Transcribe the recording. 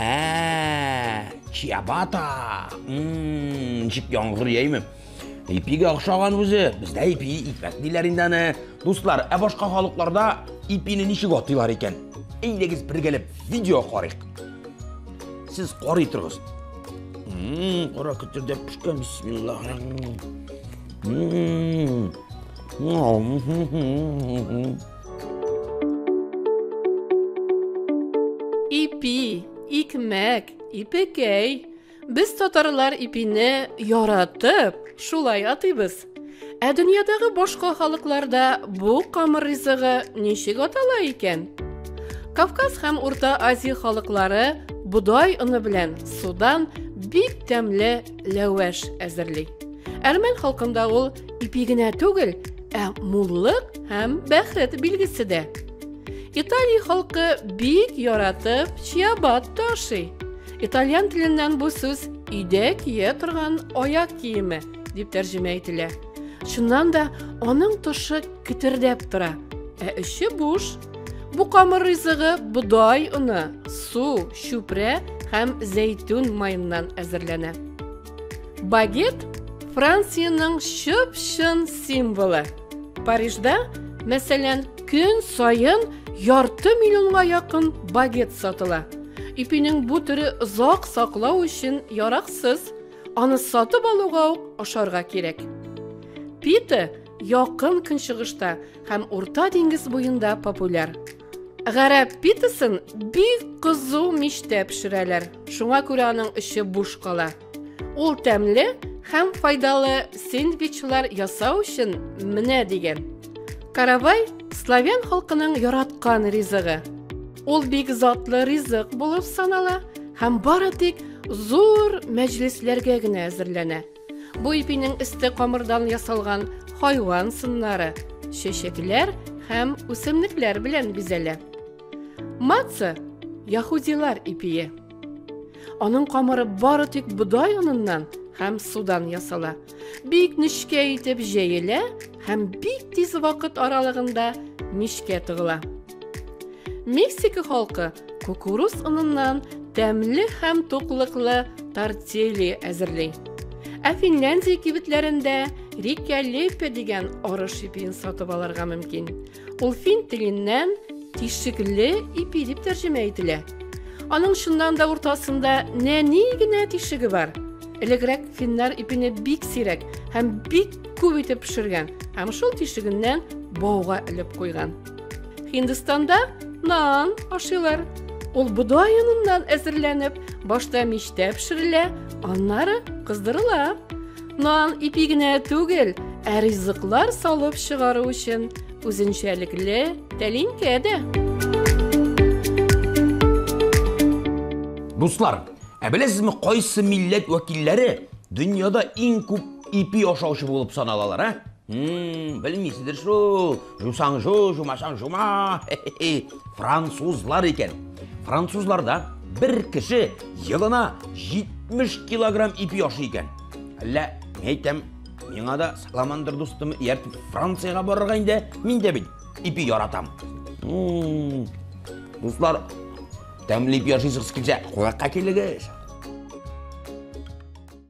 Ә, чиабата. Мм, ничек яңгыр яйме? Ипиге охшаган үзе. Бездә ипи икмәк диләр инде аны. Дуслар, ә башка халыкларда ипине ничек атыйлар икән? Әйдәгез бергәләп видео карыйк. Сез карый торыгыз. Мм, кара көттердә пешкән, бисмиллаһ. Мм. Ипи, икмәк, ипекәй. Без татарлар ипине яратып, шулай атыйбыз. Ә дөньядагы башка халыкларда бу камыр ризыгы ничек атала икән? Кавказ һәм Урта Азия халыклары бодай оны белән судан бик тәмле ләвәш әзерли. Әрмән халкында ул Ипи генә түгел, ә муллык һәм бәхет билгесе дә. Италия халкы бик яратып чиабатта ашый. Итальян теленнән бу сүз өйдә кия торган аяк киеме дип тәрҗемә ителә. Шуннан да аның тошы китердәп тора, ә эче буш. Бу камыр ризыгы бодай оны, су, чүпрә һәм зәйтүн майыннан әзерләнә. Багет Франциянең чып-чын символы. Парижда, мәсәлән, көн саен ярты миллионга якын багет сатыла. Ипинең бу төре озак саклау өчен яраксыз. Аны сатып алуга ук ашарга кирәк. Пите якын көнчыгышта һәм Урта диңгез буенда популяр. Гарәп питасын бик кызу мичтә пешерәләр. Шуңа күрә аның эче буш кала. Ул тәмле һәм файдалы сэндвичлар ясау өчен менә дигән. Каравай славян халкының яраткан ризыгы. Ул бик затлы ризык булып санала һәм бары тик зур мәҗлесләргә генә әзерләнә. Бу ипинең өсте камырдан ясалган хайван сыннары, чәчәкләр һәм үсемлекләр белән бизәлә. Маца яһудилар ипие. Аның камыры бары тик бодай оныннан һәм судан ясала. Бик нечкә итеп җәелә һәм бик тиз вакыт аралыгында мичкә тыгыла. Мексика халкы кукуруз оныннан тәмле һәм туклыклы тортилья әзерли. Ә Финляндия кибетләрендә рикә лепе дигән арыш ипиен сатып алырга мөмкин. Ул фин теленнән тишекле ипи дип тәрҗемә ителә. Аның чыннан да уртасында нәни генә тишеге бар. Элегрәк финнар ипине бик сирәк һәм бик күп итеп пешергән һәм шул тишегеннән бауга элеп куйган. Һиндстанда нан ашыйлар. Ул бодай оныннан әзерләнеп, башта мичтә пешерелә, аннары кыздырыла. Нан ипи генә түгел, ә ризыклар салып чыгару өчен үзенчәлекле тәлинкә дә. Дуслар, ә беләсезме, кайсы милләт вәкилләре дөньяда иң күп ипи ашаучы булып саналалар, а? М-м, белмисездер шул, жусаң жу, жумасаң жума, хе-хе-хе, французлар икән. Французларда бер кеше елына 70 килограмм ипи ашый икән. Әллә, мин әйтәм, миңа да саламандыр дустым, ияртеп Франциягә барырга инде, мин дә бит ипи яратам. М-м, дуслар, тәмле ипи ашыйсыгыз килсә, кунакка килегез.